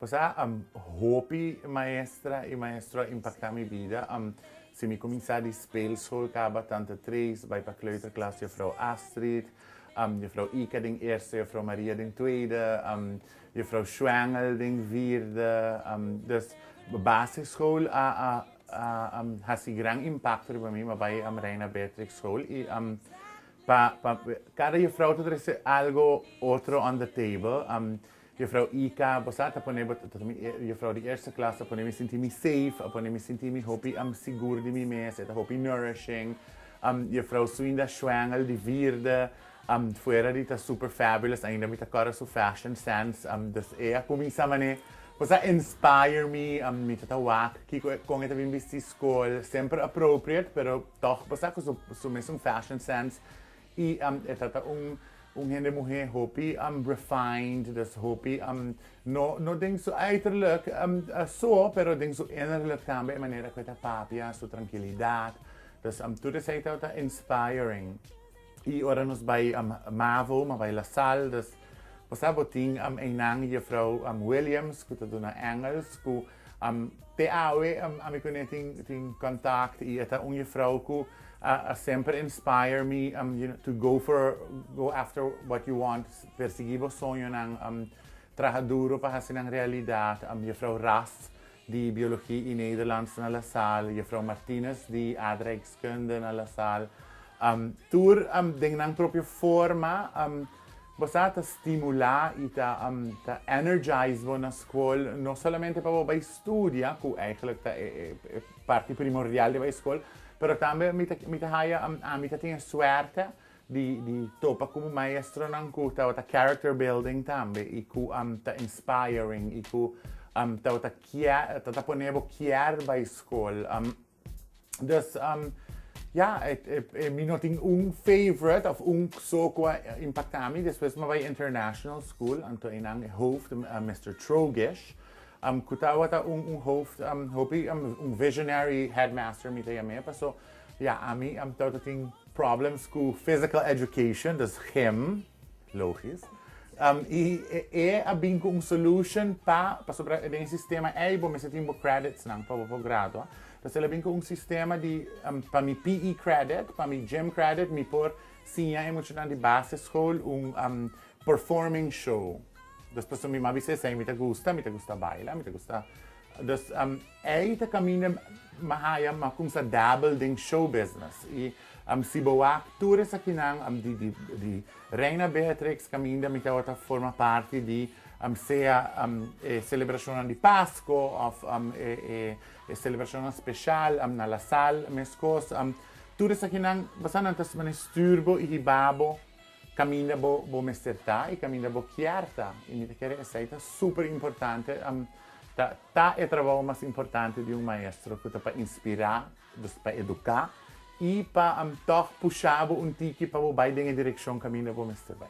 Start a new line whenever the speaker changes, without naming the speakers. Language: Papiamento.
Pasá am hopi maestra i maestro a impaktá mi bida. Am si mi kuminsá di speelschool kaba tante tres bai pa kleuterklas Juffrouw Astrid, am Juffrouw Ika den eerste, Juffrouw Maria den tweede, am Juffrouw Schwengel den vierde. Am dus basisschool a a a am hasi gran impakto riba mi, ma bai am Reina Beatrix School i am pa pa kada juffrouw ta trese algo otro on the table. Am. Juffrouw EK, bo sa ta pone bo ta mi juffrouw di eerste klas ta pone mi sinti mi safe a pone mi sinti mi hopi sigur di mi mes e ta hopi nourishing juffrouw Suinda Schwengel di vierde fuera di ta super fabulous ainda mi ta kòrda su fashion sense dus e a kuminsá manera bo sa inspire mi mi ta ta wak kiko e kon e ta bin bisti skol semper appropriate pero tòg bo sa ku su mesun fashion sense Y am e ta ta un un hende muhe hopi am refined, dus hopi am no no den su uiterlijk so, pero den su innerlijk tambe e manera ku e ta papia, su trankilidat, dus am tur esei ta ta inspiring. Y ora nos bai Mavo, mi a bai La Sal, dus bo sa bo tin einan Juffrouw Williams ku ta duna Engels ku Te awe ami cu ne tin contact y e ta un juffrouw cu a semper inspire mi to go for, go after what you want, persegui bo soñonan, traha duro pa haci nan realidad, Juffrouw Rast di Biologie y Nederlands na La Salle, Juffrouw Martinez di Aardrijkskunde na La Salle. Tur den nan propio forma. Bo sa, ta stimulá i ta ta energize bo na skol, no solamente pa bo bai studia, ku eigentlik ta e e parti primordial di bai skol, pero tambe mi ta mi ta haya, ami ta tin e suerte di di topa ku maestronan ku tabata character building tambe i ku ta inspiring i ku tabata kier ta ta pone bo kier bai skol. Dus um, ja, et, et, et, mi no tin un favorite of un so qua impacta mi. Después me vai international school, anto einan e hoofd, uh, eh, Mr. Trogish. Um, kuta wata un, un hoofd, um, hopi, um, un visionary headmaster mi te yame, paso, ja, ami, um, tauta tin Problems cu physical education, dus gym, logisch, y e a bin cu un solution pa, pasobra den e sistema ey bo mester tin bo credits nan pa bo por gradua, dus el a bin cu un sistema di pa mi PE credit, pa mi gym credit mi por siña e muchanan di base school un performing show, dus pasobra mi maba esey, mi ta gusta, mi ta gusta baila, mi ta gusta, dus. Ei ta kaminda mi haya mi a kumsa dabel den show business i si bo wak tur esakinan di Reina Beatrix kaminda mi tabata ta forma parti di sea e selebrashonnan di Pasko òf e selebrashonnan speshal na La Sal meskos. Tur esakinan basannan ta mester stuur bo i hiba bo. Kaminda bo bo mester ta i kaminda bo kier ta. I mi ta kere esei ta super importante, ta ta e trabou mas importante di un maestro ku ta pa inspirá, dus pa eduká i pa tòg pushá bo un tiki pa bo bai den e direkshon kaminda bo mester bai.